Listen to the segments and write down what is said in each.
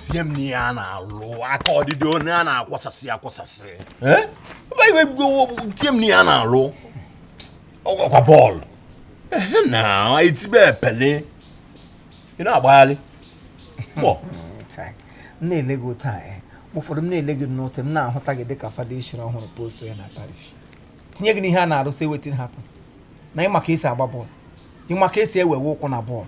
tinye m n'ihe a na-alụ aka ọdịdị onye a na-akwasasị akwasasị Eh? Ebe iwe bigo tinye m n'ihe a na-alụ ọ kwa bọọlụ ehe na etibe Pele ị na-agbagharị mọ Chai, m na-ele gị otu a eh. Mgbe ụfọdụ m na-ele gị n'otu m na-ahụta gị dịka fada e chiri ọhụrụ post ya na parish tinye gị n'ihe a na-arụ sị wetin happen na ịma ka esi agba bọọlụ ịma ka esi ewewe ụkwụ na bọọlụ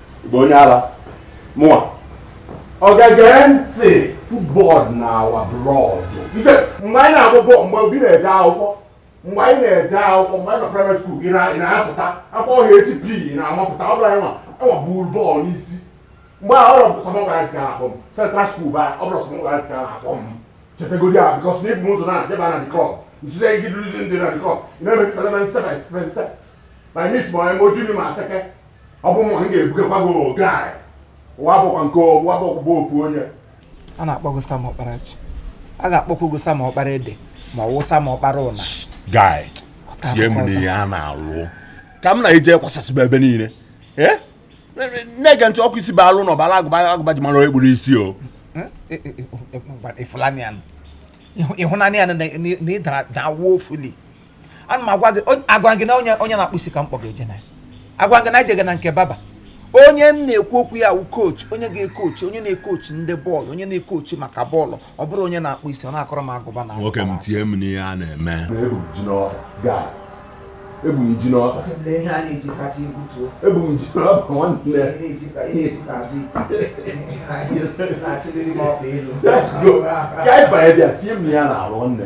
bụ onye ala mụwa ọ ga-ege ntị football na our blood mgbe anyị na-agba bọọlụ mgbe obi na-eje akwụkwọ mgbe anyị na-eje akwụkwọ mgbe anyị na primary school ị na-apụta akpọ ọhịa HP na-amapụta ọ bụrụ anyị nwa enwa buru bọọlụ n'isi mgbe a ọ bụrụ Sam Okwaraji ka a na-akpọ m central school ba ọ bụrụ Sam Okwaraji ka a na-akpọ m chepegodi a because na ibu ụzọ na deba na dikọp nzuzo gị dịrụzi ndị na dikọp ị na-emesi kpatara nsebe nsebe ma anyị isi ma onye ma oju ma ateke ọ bụ nwa m ga-ebugakwa gị oge anyị ụwa bụkwa nke ọgwụ abụkwụba ofu onye a na-akpọ gị Sam Ọkparaji a ga-akpọkwa gị Sam Ọkpara ede ma ọ wụ Sam Ọkpara ụna guy tie m n'ihe a na-alụ ka m na-eje kwasasịba ebe niile eh? na-ege ntị ọkụ isi bụ alụ na ọbara agụba agụba ji mara onye kpụrụ isi o ịfụlanị ya ịhụnanị ya na ịdara ada woefully ana m agwa gị onye- agwa gị na onye onye na-akpụ isi ka m kpọ gị eje na ya agwa gị na ejega na nke barber onye m na-ekwu okwu ya wụ coach onye ga-ekochi onye na-ekochi ndị bọọlụ onye na-ekochi maka bọọlụ ọ bụrụ onye na-akpụ isi ọ na-akọrọ m agụba na nwoke m tie m n'ihe a na-eme ebu m ji n'ọba gaa ebu m ji n'ọba ebu m ji n'ọba nwanne let's go ka anyị banye bịa tie m ya n'ala nwanne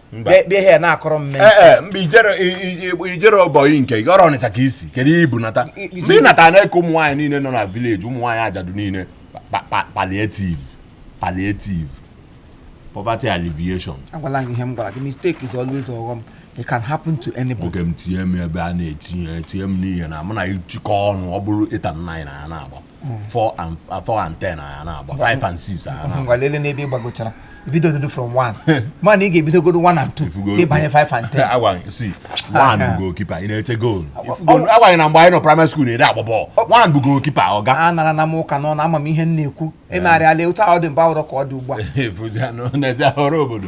bịa bịa ihe na-akọrọ m ee ee ee mgbe ijere i- i- i- ijere ọbọyị nke gị ọ bụrụ Ọnịcha ka i si kedu ihe ibu nata I- i- mgbe ị natara na-eke ụmụ nwaanyị niile nọ na village ụmụ nwaanyị ajadu niile pa- pa- palliative palliative poverty alleviation agwala gị ihe m gwara gị mistake is always ọghọm it can happen to anybody nwoke m tinye m ebe a na-etinye tinye m n'ihe na mụ na ịchịkọ ọnụ ọ bụrụ 8 and 9 na ya na-agba 4 and 4 and 10 na ya na-agba 5 and 6 na ya na-agba ngwa lele n'ebe ị gbagochara ibidogodu from 1 mana ị ga-ebidogodu 1 and 2 Ifugo- ịbanye 5 and 10 agwa sị 1 bụ goalkeeper ị na-eche goolu Ifugo- agwa gị na mgbe anyị nọ primary school na-ede agba bọọlụ 1 bụ goalkeeper ọga anarana m ụka n'ọnụ ama m ihe m na-ekwu emegharịala otu ọ dị mgbe ahụ abụrọ ka ọ dị ugbu a efuzianụ n'ezi ahụrụ obodo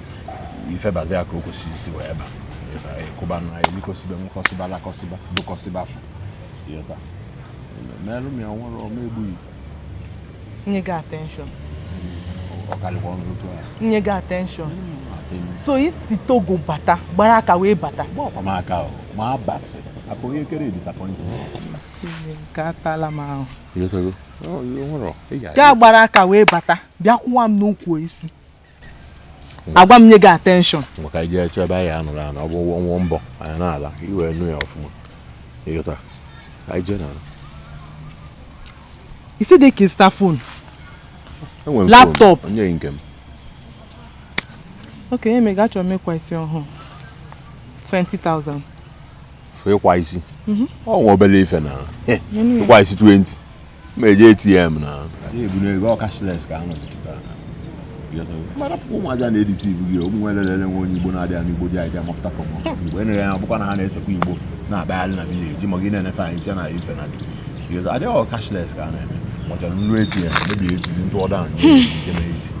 ife bazi ya ka o kwesịrị isi wee ba ịkụba na elikọsiba nwekọsiba lakọsiba bụkọsiba fụ merụ m ya nwere ọma egbughị nye gị attention ọkarịkwa ọnụ otu a nye gị attention so i si Togo bata gbara aka wee bata gba ọkwa m aka ma abasị akụ onye kere disappointment nke atala m ahụ gaa gbara aka wee bata bịa kwụwa m n'ukwu isi agwa m nye gị attention maka ije chọọ ebe anyị anụrụ anụ ọ bụ nwụọ mbọ anyị na-ala iwe nụ ya ọfụma ịghọta anyị jee n'ala isi dị ka ịzụta phone enwere m Laptop. phone, onye nke m oke ihe mega achọrọ m ịkpa isi ọhụụ 20,000 for ịkpa isi ọ nwa obele ife n'enu ya. ịkpa isi 20 ma eji ATM na-ebunye ego ọ cashless ka a nọzi kịta marapụkwa ụmụazị a na-edisi ibu gị ụmụ nwere lele nwe onye Igbo na-adịghị anụ igbo dị anyị amapụta from igbo enere ya bụkwa na ha na-esekwa igbo na-akpagharị na village ma gị na-enefe anyị che na ife na dị adịghị cashless ka a na-eme machara nnu ATM mebiri ejizi ndị ọda anyị ike na ezi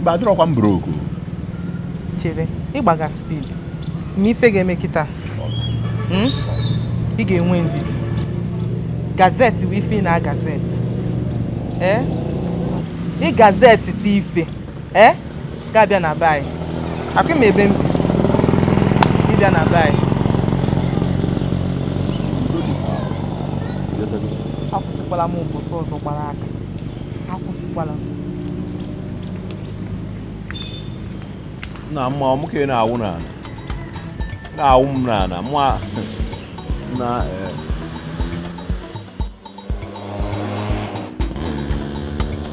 mba adịrọkwa m broke chere ị gbaga speed ma ife ga-eme kịta hmm? ị ga-enwe ndidi gaa zụte bụ ife ị na-aga zụte eh? ị gaa zụta ife eh? ga-abịa na be anyị ọkwa ịma ebe m bi ịbịa na be anyị akwụsịkwala m ụbọchị ọzọ gbara aka akwụsịkwala na mma ọmụ ka ị na-awụ n'ala na-awụ m n'ala mụ na eh,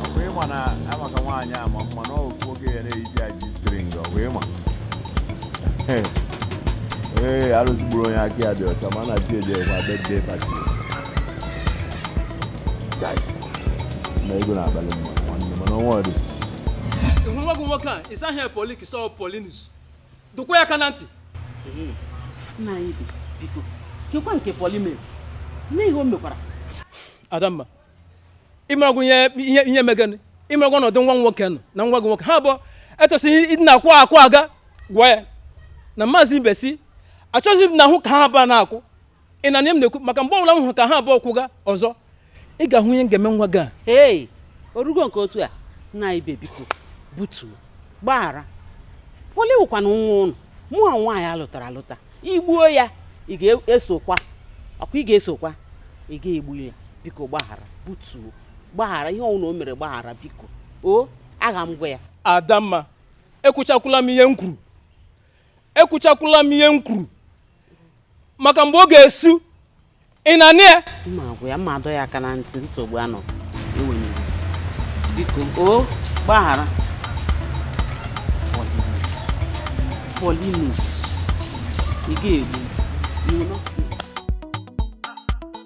ọkwa ịma na Amaka nwaanyị ama mma na ofu oge ya na-eji G-string ọkwa ịma ee arụzigburu onye aka ya dị ọcha ma na chi eji ekwa birthday party ịhụ nwa gị nwoke a ịsa ihe polik sọ Paulinus dọkwa ya aka na ntị nna anyị bi biko kekwa nke Pauli mere nne ihe o mekwara Adamma ịmaragwo ihe ihe ihe megani ịmaragwo ọnọdụ nwa nwoke nọ na nwa gị nwoke ha abụọ etosighị ịdị na-akwụ akwụ aga gwa ya na maazị Ibesi achọghịzi m na ahụ ka ha abụọ na-akwụ ị na-anụ ihe m na-ekwu maka mgbe ọbụla m hụrụ ka ha abụọ kwụga ọzọ ị ga-ahụ ihe m ga-eme nwa gị a ee orugo nke otu a nna anyị biko butuo gbaghara poli wụkwanụ nwa unu mụwa nwaanyị alụtara alụta i gbuo ya ị ga-esokwa ọkwa ị ga-esokwa ị ga-egbu ya biko gbaghara butuo gbaghara ihe ọ wụna o mere gbaghara biko o aga m agwa ya adamma ekwuchakwula m ihe m kwuru ekwuchakwula m ihe m kwuru maka mgbe ọ ga-esu ị na-anụ ya m ma agwa ya m ma adọ ya aka na ntị nsogbu anọ enweghị biko o gbaghara polinus ị ga-egbu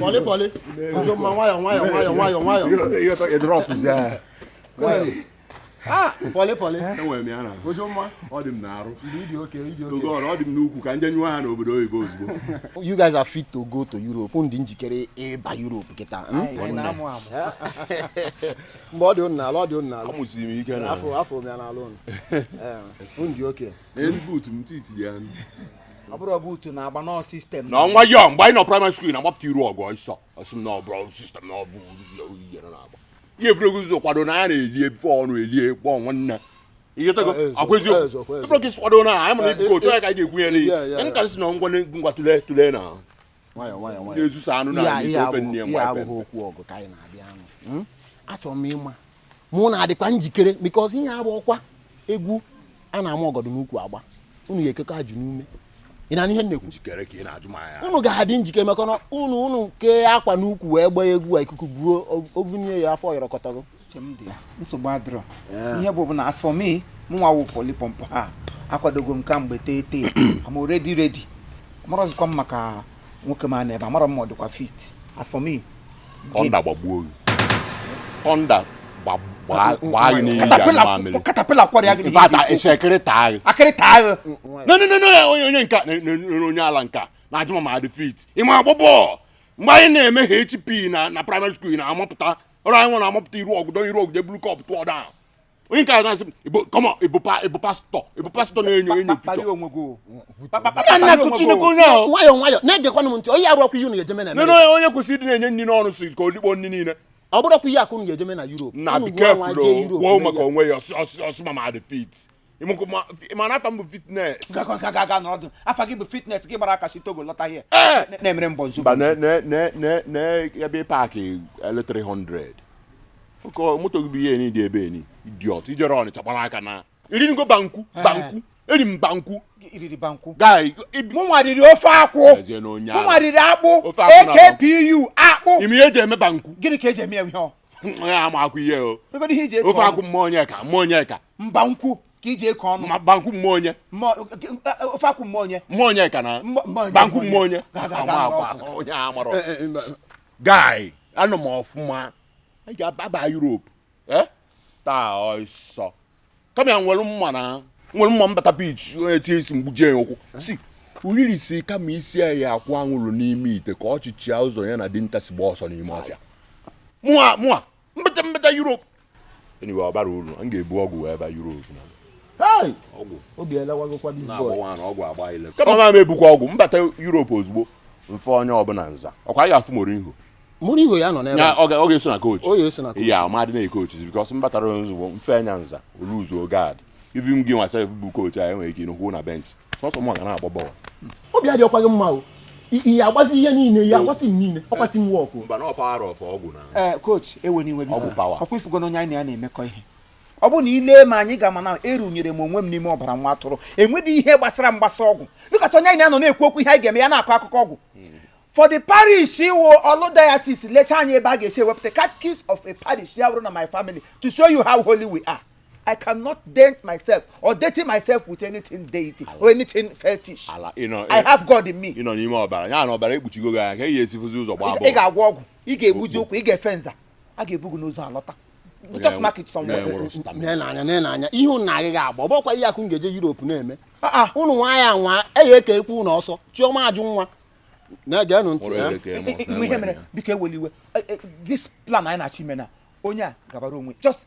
pọlị pọlị ụjọ mma nwayọ nwayọ nwayọ nwayọ nwayọ pọlị pọlị enwere m ya na ụjọ mma ọ dị m n'arụ mgbe ị dị okay ị dị okay oge ọrụ ọ dị m n'ukwu ka m jee nyụọ ha n'obodo oyibo ozugbo you guys are fit to go to Europe m dị njikere ịba Europe kịta mgbe ọ dị unu n'ala ọ dị unu n'ala amụsiri m ike na afọ afọ m ya n'ala unu unu dị oke n'elu buutu m ti tinye ya ọ bụrụ buutu na-agba nọọ system na ọnwa ya mgbe anyị nọ primary school na-agbapụta iru ọgụ ọsọ ọ sị m na ọ bụrụ system na ọ bụ ihe na-agba ihe egwuregwu ụzọ kwado na ya na-elie before ọnụ elie kpọọ nwanne ị ghọtago eh, eh, ọkwa eziokwu ịbụrụ eh, ka isi kwado na anyị mana ebuko otu ya ka anyị ga-egwunyere ihe nkarịsị na ngwa ngwa tụlee tụlee na na-ezusa anụ na ofe nne ya abụghị okwu ọgụ ka anyị na-abịa anụ hmm? achọrọ m ịma ma unu adịkwa njikere because ihe a bụ ọkwa egwu a na-ama ọgọdụ n'ukwu agba unu ga-ekekwa ajụ n'ume ị na-anụ ihe m na-ekwu unu ga-adị njikere maka na unu unu kee akwa n'ukwu wee gbaa egwu a ikuku buo o vunie ya afọ yọrọkọtago nsogbu adịrọ ihe ọ bụ bụ na as for me mụnwa wụ polipọmpụ ha akwadogo m kemgbe tee tee am already ready amarọzikwa m maka nwoke m a nọ ebe a amarọ m ma ọ dịkwa fit as for me thunder gbagbuo gị thunder gbaa gị n'iyi ya mamịrị caterpillar kwara ya gị n'iyi fata ese akịrị taa gị akịrị taa gị no no no onye onye nke a onye ala nke a na-ajụ ma m adị fit ị ma agba bọọlụ mgbe anyị na-eme HP na na primary school na-amapụta ọrụ anyị nwere amapụta iru ọgụ dọnye iru ọgụ jee bulu cup tụọ da onye nke a na-asị m "Ibo- come on, ị bụ pa- ị bụ pastor ị bụ pastor na-enyo enyo fuchọ kpalie onwe gị o. Pa- pa- pa- nna nna kpalie kụ onwe gị chineke o. onye ahụ nwayọọ nwayọọ na-egekwanụ m ntị onye arụ ọkwa ihe unu ga-ejeme na nene Amerịka. onye onye kwesịrị ịdị na-enye nri n'ọnụ si ka o likpo nri niile ọ bụrụ ọkwa ihe akụ unu ga-ejeme na Europe na Unu gịnwa be careful jee Europe kwuo mee maka ya. onwe ya ọ sị ọ sị ọ sị ma m adị fit Ịmụkụ ma ị ma na afa m bụ fitness. Gakwa nka ga-aga n'ọdụ. Afa gị bụ fitness gị gbara aka si Togo lọta here. Ee! Na- Na-emere mbọ nzu. Mba na na na na na ebe paakị ele 300. Oke moto gị bụ ihe ni dị ebe ni. Idiot. I jere Ọnịcha gbara aka naa. I rinugo banku banku. Eri m banku. I riri banku. Guy ibi. Mụ nwa riri ofe akwụ. Ezie na onye Mụ ahụ. nwa riri akpụ. Ofe akwụ na AKPU akpụ. Ị ma ihe e ji eme banku. Gịnị ka e ji eme ya ihe ọ? Ya ama akwụ ihe o. Ego ihe i ji etu Ofe ọnụ. akwụ mmụọ onye ka mmụọ onye ka. banku ka i ji eke ọnụ ma banku mmụọ onye Mmụọ- eh, eh, ofe akwụ mmụọ onye mmụọ onye ka na Mmụọ- mmụọ onye, banku mmụọ onye Ga- ga- ga- Ama- ga- ama- onye a mara Eh, eh, mba. guy anọ m ọfụma anyị ga-ababa Europe eh? taa ọsọ kama ya nwere mma na nwere mma m bata pitch onye tie isi m gbujie ya ụkwụ si uriri sị kama isi ya akwụ anwụrụ n'ime ite ka ọchịchị ya ụzọ ya na dinta si gba ọsọ n'ime ọfịa mụa mụa m bata m bata Europe anyway ọ bara uru m ga-ebu ọgwụ wee ba Europe na ọgwụ obi elewagokwa this boy ọgwụ agba ile kama ma m ebukwa ọgwụ m bata Europe ozugbo m fee onye ọbụla nza ọkwa anyị ga-afụ Mourinho Mourinho ya nọ n'ebe ya ọ ga-eso na coach ya ọ ma dị na-ekoach because m batara ozugbo m fee ya nza oluzuo gad even gị nwa sef bụ coach anyị nwere ike ịnọkwu na bench sọsọ m ga na-agba bọl obi adịrọkwa gị mma o ị ya-agbazi ihe niile ị ya-agba team niile ọkwa team work mba na power of ọgwụ na ee coach ewena iwe gị ọkwa ị fụgo na onye anyị na ya na-emekọ ihe ọ bụ na i lee m anya ị ga-ama na erunyere m onwe m n'ime ọbara nwa atụrụ enwedị ihe gbasara m gbasa ọgwụ dịkọta onye anyị na ya nọ na-ekwu okwu ihe anyị ga-eme ya na-akọ akụkọ ọgwụ for the parish the whole diocese lecha anyị ebe a ga-esi ewepụta catechist of a parish ya bụrụ na my family to show you how holy we are I cannot dent myself or dirty myself with anything deity or anything fetish. Ala, you know, I have God in me. Ị nọ n'ime ọbara, ya na ọbara ekpuchigo gị anya kee ị ya-esi fụzi ụzọ gbaa bọọlụ. Ị ga-agwọ ọgwụ, ị ga-egbuji ụkwụ, ị ga-efe nza, a ga-ebu gị n'ụzọ alọta. Just mark it somewhere. N'anya n'anya ihe ụnụ na-agịghị agba, ọ bụkwa ihe a ka ụnụ ga-eje Europe na-eme. Ah, ah. Ụnụ nwa ya nwa, e ya eke ekwu ụnụ ọsọ, Chioma Ajunwa. na-egenụ ntị ihe mere biko ewela iwe e, e, this plan anyị na-achọ ime na onye a gabara onwe just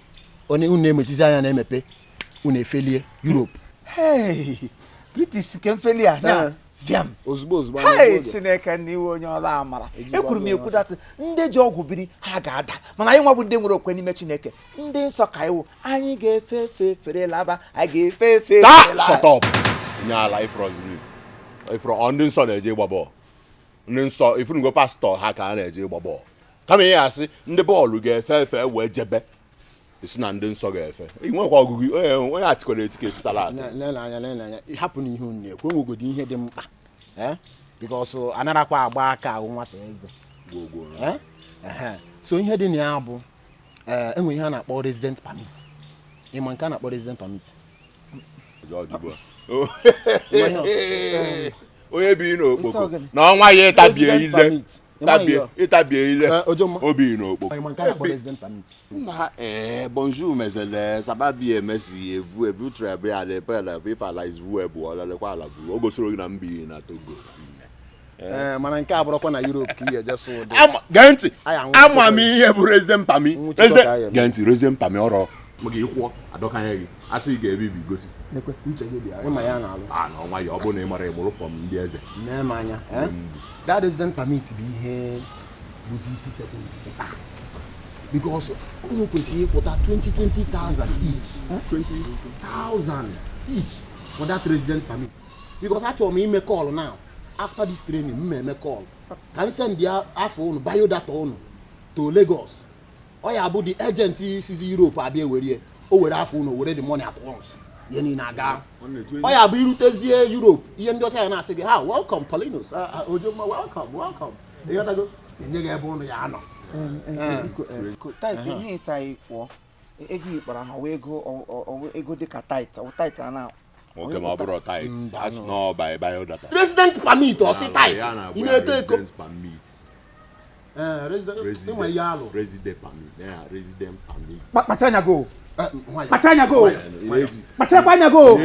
onye unu emechizi anya na-emepe unu efelie Europe british nke m felie ya eh. fịam ozugbo ozugbo hey Chineke n'iwe onye ọla amara ekwuru m ekwu that ndị ji ọgwụ biri ha ga-ada mana anyị nwa bụ ndị nwere okwe n'ime Chineke ndị nsọ ka anyị wụ anyị ga-efe efe fere laba anyị ga-efe efe shut up onye ala ị fụziri ị fụrụ ndị nsọ na-eje ịgba bọọlụ ndị nsọ ị fụnugo pastor ha ka a na-eje ịgba bọọlụ kama ị ya-asị ndị bọọlụ ga-efe efe wee jebe esi na ndị nsọ ga-efe nwekwa ọgụgụ onye atikwara etiketi sara hapụ na ihe unu na-ekwu enwegodi ihe dị mkpa eh? because anarakwa agba aka ahụ nwata eze eh? so ihe dị na ya bụ eh, enwere ihe a na-akpọ resident permit ị ma nke a na-akpọ resident permit onye bi n'Okpoko na ọ nwaa ya ịtabie ile ịtabie ile o bi n'Okpoko ee bonjour mes élèves ça va bien merci et vous et vous très bien ala ebe ala ebe ife ala izu ebu ọla lekwa ala buru o gosiri gị na m bi na Togo Eh, mana nke a bụrụkwa na Europe ka ihe eje sụ ụdị gee ntị ama m ihe bụ resident permit gee ntị resident permit ọrụ maka ịkwụọ adọkanye gị asị ị ga-ebibi gosi Nekwe, uche gị dị ya ịma ya na-alụ a na ọnwa ya ọ bụrụ na ị mara ịmụrụ form ndị eze nee m anya eh? Ndị mgbu. that resident permit bụ ihe bụzi isi sekpu ntị because unu kwesịrị ịkwụta 20,000 each eh? 20,000 each for that resident permit because achọrọ m ime call now after this training m eme call ka m send ya afa unu biodata unu to Lagos ọ ya bụ the agent sizi Europe abịa ewerie o were afa unu were the money at once ihe niile aga ọ ya bụ i rutezie Europe ihe ndị ọcha ya na-asị gị ha welcome Paulinus ah, ah, ojomma welcome welcome ịghọtago enye gị ebe unu ya-anọ tight ihe ịsa anyị kwụọ ego ikpara ha wee ego dịka tight tight a na nwoke ma ọ bụrụ tight as no by biodata resident permit ọ sị tight ị na-eto eto kpachara anya go kpachara anya go kpacharakwa anya go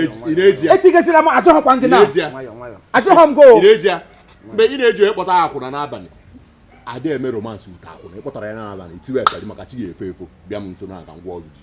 etigazila m ajọghọkwa gị na ajọghọ m go mgbe ị na-eji onye kpọta akwụna n'abalị adị eme romance with akwụna ị kpọtara ya n'abalị itiwe ekari maka chi ga-efo efo bịa m nso na aga ngwa ọrụ ji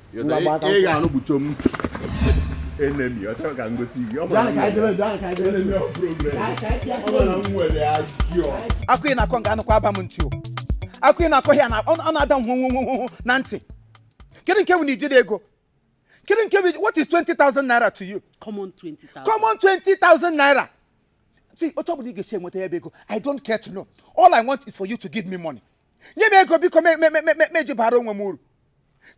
ị ga-anụ gbucho m enemi ọ chọrọ ka m gosi gị akụ ị na-akọ nga anụkwa aba m ntị o akụ ị na-akọ ya ọ na-ada nwụnwụnwụnwụ na ntị kedu nke bụ na ijide ego kedu nke bụ what is 20,000 naira to you common 20,000 common 20,000 naira see otu ọ bụla ị ga-esi enweta ya bụ ego i don't care to know all i want is for you to give me money nye m ego biko m eji bara onwe m uru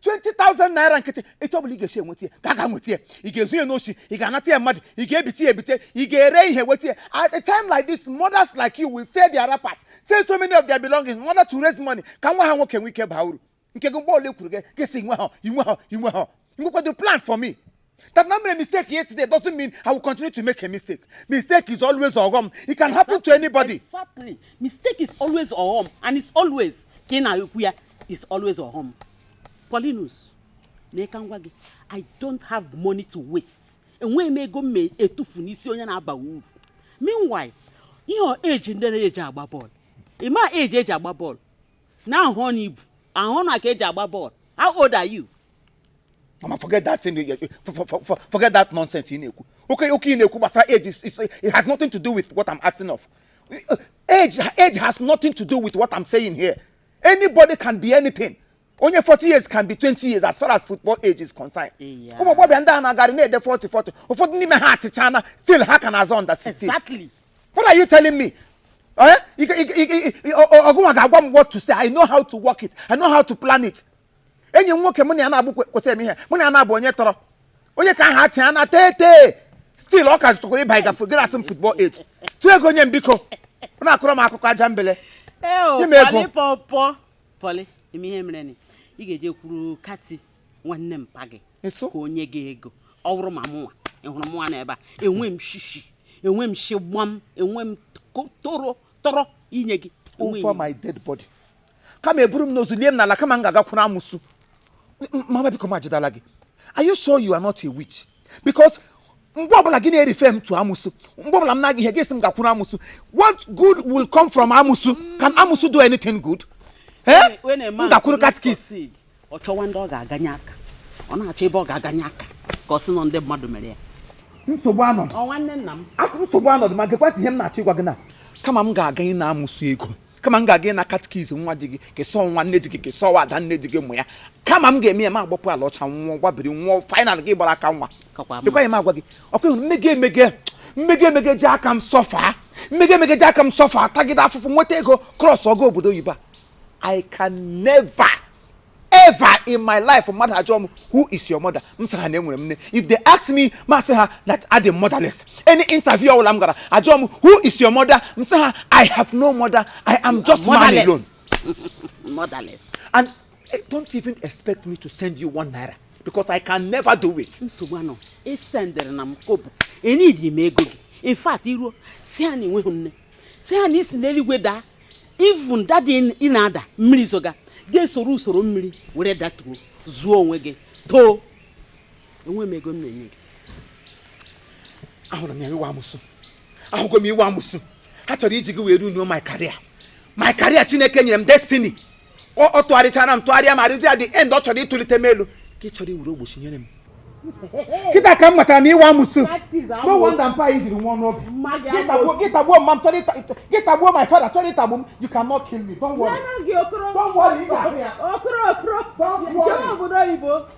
20,000 naira nkịtị etu ọ bụla ị ga-esi enweta ya gị gaa nweta ya ị ga-ezu ya n'osi ị ga-anata ya mmadụ ị ga-ebite ya ebite ị ga-ere ihe weta ya at a time like this mothers like you will sell their wrappers sell so many of their belongings in order to raise money ka nwa ha nwoke nwee ike baa uru nke gị mgbe ọ bụla e kwuru gị gị sị i nweha i nweha i nweha Ngwekwa do plan for me. That na m mere mistake yesterday doesn't mean I will continue to make a mistake. Mistake is always ọghọm. It can happen to anybody. Exactly. Mistake is always ọghọm and it's always ka ị na-ekwu ya is always ọghọm. Paulinus, na ịka ngwa gị, I don't have money to waste. Enweghị m ego m ma etufu n'isi onye na-abaghị uru. Meanwhile, ihe age ndị na-eji agba bọọlụ. Ị ma age e ji agba bọọlụ. Na ahụ ọnụ ibu, ahụ ọnụ aka eji agba bọọlụ. How old are you? mama forget that thing forget that nonsense ị na-ekwu okwu okwu ị na-ekwu gbasara age it has nothing to do with what i'm asking of uh, age age has nothing to do with what i'm saying here anybody can be anything onye 40 years can be 20 years as far as football age is concerned ụmụ agbọghọbịa ndị a na-agarị na-ede 40 40 ụfọdụ n'ime ha achịchana still ha ka na-azọ under 16 exactly what are you telling me ọ gịnwa ga-agwa m what to say i know how to work it i know how to plan it enyi m nwoke mụ na ya na-abụ kwesịrị m ihe mụ na ya na-abụ onye tọrọ onye ka aha atị ya na thirty still ọ ka zụtakwara ịba ịga gara asị m football age tụọ ego nye m biko ọ na-akọrọ m akụkọ ajambele ị ga-ejekwuru kati nwanne mpa gị ka o nye gị ego ọ bụrụ ma mụnwa ị hụrụ mụnwa n'ebe a enwe m shishi enwe m shigbam enwe m toro toro inye gị over my dead body kama e buru m n'ozu lie m n'ala kama m ga-agakwuru amụsụ mama biko m ajidala gị are you sure you are not a witch because mgbe ọbụla gị na-refer m to amụsụ mgbe ọbụla m na-aga ihe gị sị m gakwuru amụsụ what good will come from amụsụ can amụsụ do anything good? eh? m gakwuru catechist ọ chọwa ndị ọ ga-aganye aka ọ na-achọ ebe ọ ga-aganye aka ka ọ sị na ndị mmadụ mere ya nsogbu anọdụ ọ nwanne nna m asị nsogbu anọdụ ma gekwatị ihe m na-achọ ịgwa gị na kama m ga-aga ịna amụsụ ego kama m ga-aga ịna catechist nwa di gị kesọ nwa nne di gị kesọ nwa ada nne di gị mụ ya kama m ga-eme ya m agbapụ ala ọcha nwụọ gbabiri nwụọ final gị gbara aka nwa kakwa mma dịkwaghị m agwa gị ọ kwa ị hụ m m ga m ga-eji aka m suffer m ga-eji aka m suffer tagide afụfụ nweta ego cross over obodo oyibo a I can never ever in my life mmadụ ajụọ m who is your mother m sị ha na enweghị m nne if they ask me m asị ha that I am motherless any interview ọbụla m gara ajụọ m who is your mother m sị ha I have no mother I am just man alone motherless and eh, don't even expect me to send you one naira because I can never do it. nsogbu anọ esendịrịna m kobo eneedi m ego gị in fact i ruo sị ha na i nweghị nne sị ha na i si n'eluigwe daa even dada ị na-ada mmiri zoga ga-esoro usoro mmiri were datuo zuo onwe gị too enwe m ego m na-enye gị ahụrụ m ya ị wụ amụsụ ahụgo m ị wụ amụsụ ha chọrọ iji gị wee ruinuo my career my career chineke nyere m destiny ọ tụgharịchara m tụgharịa ma arịzi at the end ọ chọrọ ịtụlite m elu ka ị chọrọ iwere ogbochi nyere m kịta ka m matara na ị wụ amụsụ no wonder mpa anyị jiri nwụọ n'obi gị tagbuo mma m chọrọ gị tagbuo my father chọrọ ịtagbu m you cannot kill me don't worry don't worry ị ga-ahụ ya don't worry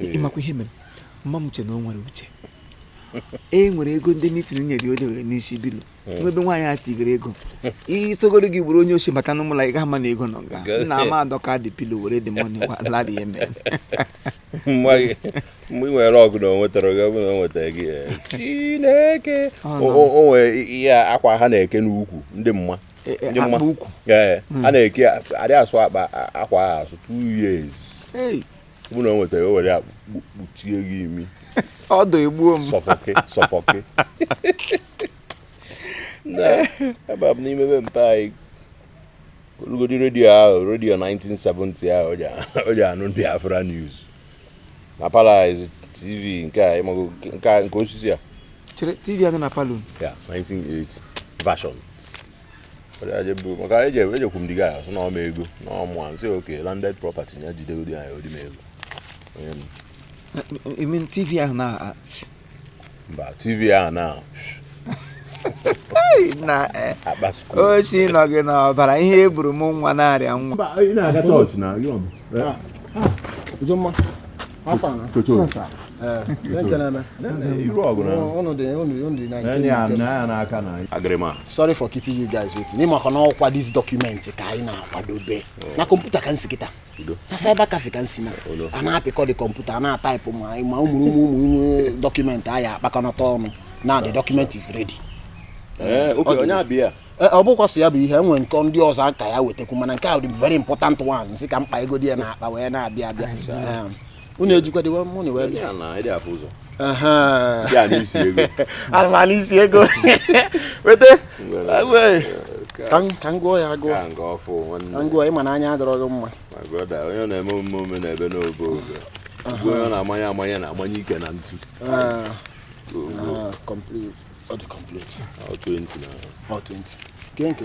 ị makwa ihe mere mma m che na o nwere uche e were ego ndị mitin nyere o dewere n'isi pillow eh. n'ebe nwaanyị a tigere ego isogodi gị bụrụ onye oshi bata n'ime ụlọ a ị gaghị ama na ego nọ nga na m adọka the pillow were the money ala dị ya mere mgbe ị nwere ọ bụ na o nwetara gị ọ bụ na o nwetara gị eh. chineke o nwere ihe akwa ha na-eke n'ukwu ndị mma e, e, akwa ukwu hmm. a na-eke adị asụ akwa ahụ asụ two years ọ bụ na o nweta o were ya kpuchie gị imi odour egbuo m suffocate suffocate ebe a bụ n'ime be mpa anyị olugodi redio ahụ redio 1970 ahụ o ji anụ Biafra news na palọ TV nke a ị mago nke a nke osisi a chere tv anyị na palọ ya 1980 version Ọ dị aje bụ- maka eje ejekwu m diga sị na ọ ma ego na ọ mụa nsị okay landed property ya jidegodi anyị o ji m ego Onye m- I mean tv ahụ na mba tv a na na eh, oshi nọ gị n'ọbara ihe e buru mụọ nwa na-arịa nwa mba ị na-aga chọọchị na yọm Ujomma afọ na chọọchị sorry for keeping you guys waiting ị makwa na ọ kwa this document ka anyị na-akwadobe na kọmputa ka m si kịta na cyber cafe ka m si na a na-apịkọ the kọmputa a na-ataịpụ ma ma ụmụrụ ụmụ ụmụ ụmụ dọkụmentị a ya-akpakọnata ọnụ now the document is ready eh, onye ọbịa, ọ bụkwa sọ ya bụ ihe e nwere nke ndị ọzọ ka a ya-ewetakwu mana nke a dị very important one m sị ka m kpagodi ya n'akpa wee na-abịa abịa unu ejikwa dịwa money wee bịa ana m anụ isi ego weta ka m gụọ ya agụọ ka m gụọ ị ma na anya adịrọ gị mma onye na-eme omume ome n'ebe n'obe obe onye na-amanye amanye na amanye ike na ntu ah. Ah, complete ọ dị complete ọ 20 na ọ 20 nke nke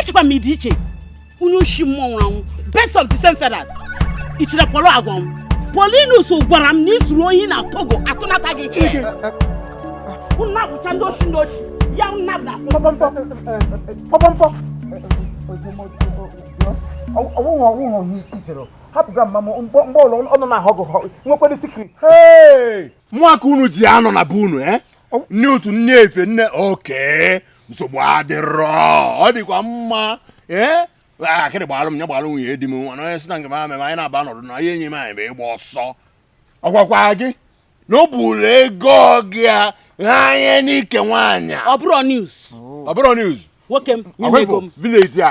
echekwa m ị dị iche onye oshi mmụọ nwụrụ anwụ birds of the same feathers i chere Pọlọ agwa m Paulinus gwara m na i zuru ohi na Togo atụnata gị iche unu na-awụcha ndị oshi ndị oshi ya unu na-abụda pọpọmpọ ọ wụghị ọ wụghị ihe i chere hapụga mma m mgbe ụlọ ọnụ na-ahụ gụ nwekwara secret mụ aka unu ji anọ na be unu eh? nne otu nne efe nne oke nsogbu adịrọ ọ dịkwa mma ee akịdị gbalụ m ya gbalụ nwunye di m nwa na onye sị na nke m ama anyị na-aba nọdụ na ihe enyi m anyị bụ ịgba ọsọ ọ gwakwa gị na ọ bụrụ ego gị a ghanye n'ike nwaanyị ọ bụrọ news ọ bụrọ news nwoke m nye m ego m village a